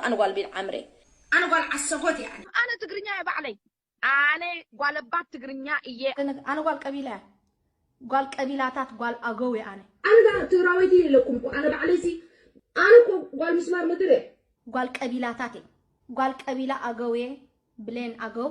ኣነ ጓል ቢልዓምር እየ። ኣነ ጓል ዓሰቦት እየ። ኣነ። ኣነ ትግርኛ እየ ባዕለይ። ኣነ ጓለባት ትግርኛ እየ። ኣነ ጓል ቀቢላ እየ። ጓል ቀቢላታት ጓል ኣገው እየ ኣነ። ኣነ ዳኣ ትግራወይቲ እየ ኢለኩም እኮ ኣነ ባዕለይ ሲ ኣነ እኮ ጓል ምስማር ምድር እየ። ጓል ቀቢላታት እየ። ጓል ቀቢላ ኣገው እየ ብሌን ኣገው።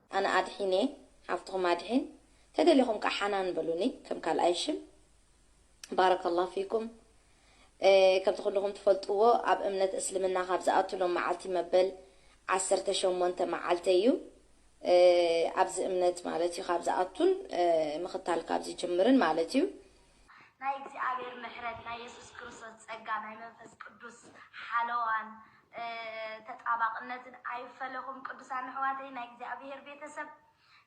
ኣነ ኣድሒን እየ ሓፍትኹም ኣድሒን ተደሊኹም ከኣ ሓናን በሉኒ ከም ካልኣይ ሽም ባረከላህ ፊኩም ከምቲ ኩሉኹም ትፈልጥዎ ኣብ እምነት እስልምና ካብ ዝኣቱ ሎም መዓልቲ መበል ዓሰርተ ሸሞንተ መዓልተይ እዩ ኣብዚ እምነት ማለት እዩ ካብ ዝኣቱን ምኽታል ካብ ዝጅምርን ማለት እዩ ናይ እግዚኣብሔር ምሕረት ናይ የሱስ ክርስቶስ ጸጋ ናይ መንፈስ ቅዱስ ሓለዋን ተጣባቅነትን ኣይፈለኹም ቅዱሳን ኣሕዋተይ ናይ እግዚኣብሔር ቤተሰብ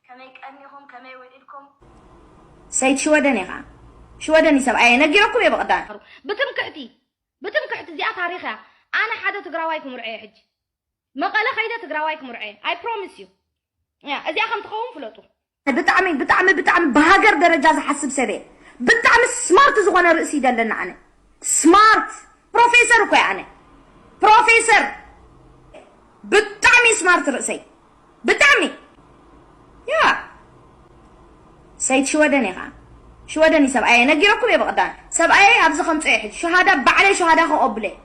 ከመይ ቀኒኹም ከመይ ውዒልኩም። ሰይድ ሽወደን ኢኻ ሽወደን እዩ ሰብኣየ ነጊረኩም እየ ብቕዳም። ብትምክሕቲ ብትምክሕቲ እዚኣ ታሪኽ እያ ኣነ ሓደ ትግራዋይ ክምርዖ እየ ሕጂ መቐለ ከይደ ትግራዋይ ክምርዖ እየ ኣይ ፕሮሚስ እዩ እዚኣ ከም ትኸውን ፍለጡ ብጣዕሚ ብጣዕሚ ብጣዕሚ ብሃገር ደረጃ ዝሓስብ ሰብ እየ ብጣዕሚ ስማርት ዝኮነ ርእሲ እዩ ደለኒ ኣነ ስማርት ፕሮፌሰር እኮ እየ ኣነ ፕሮፌሰር ብጣዕሚ ስማርት ርእሰይ ብጣዕሚ ያ ሰይድ ሽወደን እየ ከዓ ሽወደን እዩ ሰብኣየ ነጊረኩም እየ ብቀዳም ሰብኣየ ኣብዚ ከምፅኦ እየ ሕጂ ሸሃዳ ባዕለይ ሸሃዳ ከቀብሎ እየ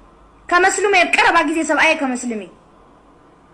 ከመስልሞ እየ ኣብ ቀረባ ግዜ ሰብኣየ ከመስልም እዩ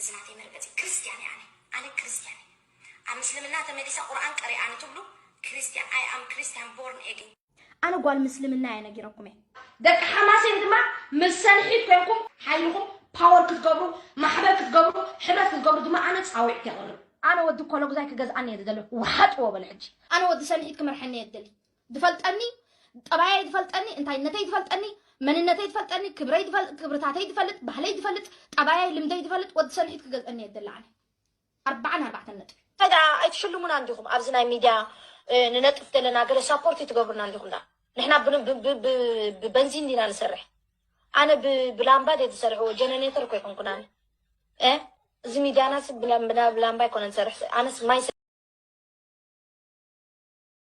እዚ ናተይ መርገጺ ክርስትያን እየ ኣነ ኣነ ክርስትያን እየ ኣብ ምስልምና ተመሊሰ ቁርኣን ቀሪኣ ንትብሉ ክርስትያን ኣይ ኣም ክርስትያን ቦርን ኤግን። ኣነ ጓል ምስልምና እየ ነጊረኩም እየ። ደቂ ሓማሴን ድማ ምስ ሰልሒት ኮንኩም ሓይልኹም ፓወር ክትገብሩ ማሕበር ክትገብሩ ሕብረት ክትገብሩ ድማ ኣነ ጻዊዕት የቕርብ። ኣነ ወዲ ኮሎጉዛይ ክገዝኣኒ እየ ዝደሊ ውሓጥዎ በሉ ሕጂ። ኣነ ወዲ ሰልሒት ክመርሐኒ እየ ዝደሊ ዝፈልጠኒ ጠባየይ ዝፈልጠኒ እንታይነተይ ዝፈልጠኒ መንነተይ ዝፈልጠኒ ክብረይ ዝፈል- ክብርታተይ ዝፈልጥ ባህለይ ዝፈልጥ ጠባየይ ልምደይ ዝፈልጥ ወዲ ሰንሒት ክገዝአኒ እየ ዝደሊ ኣነ ኣርባዓን ኣርባዕተን ነጥቢ ታዲኣ ኣይትሽልሙናን ዲኹም ኣብዚ ናይ ሚድያ እ፣ ንነጥፍ ዘለና ገለ ሳፖርት ይትገብሩናን ዲኹም ዳ ንሕና ብን- ብ- ብ- ብ- ብበንዚን ዲና ንሰርሕ ኣነ ብ- ብላምባ ደ ዝሰርሕዎ ጀነሬተር እኮ ይኮንኩን ኣነ እ፣ እዚ ሚድያናስ ብላ- ብላ- ብላምባ ይኮነ ንሰርሕ ኣነስ ማይ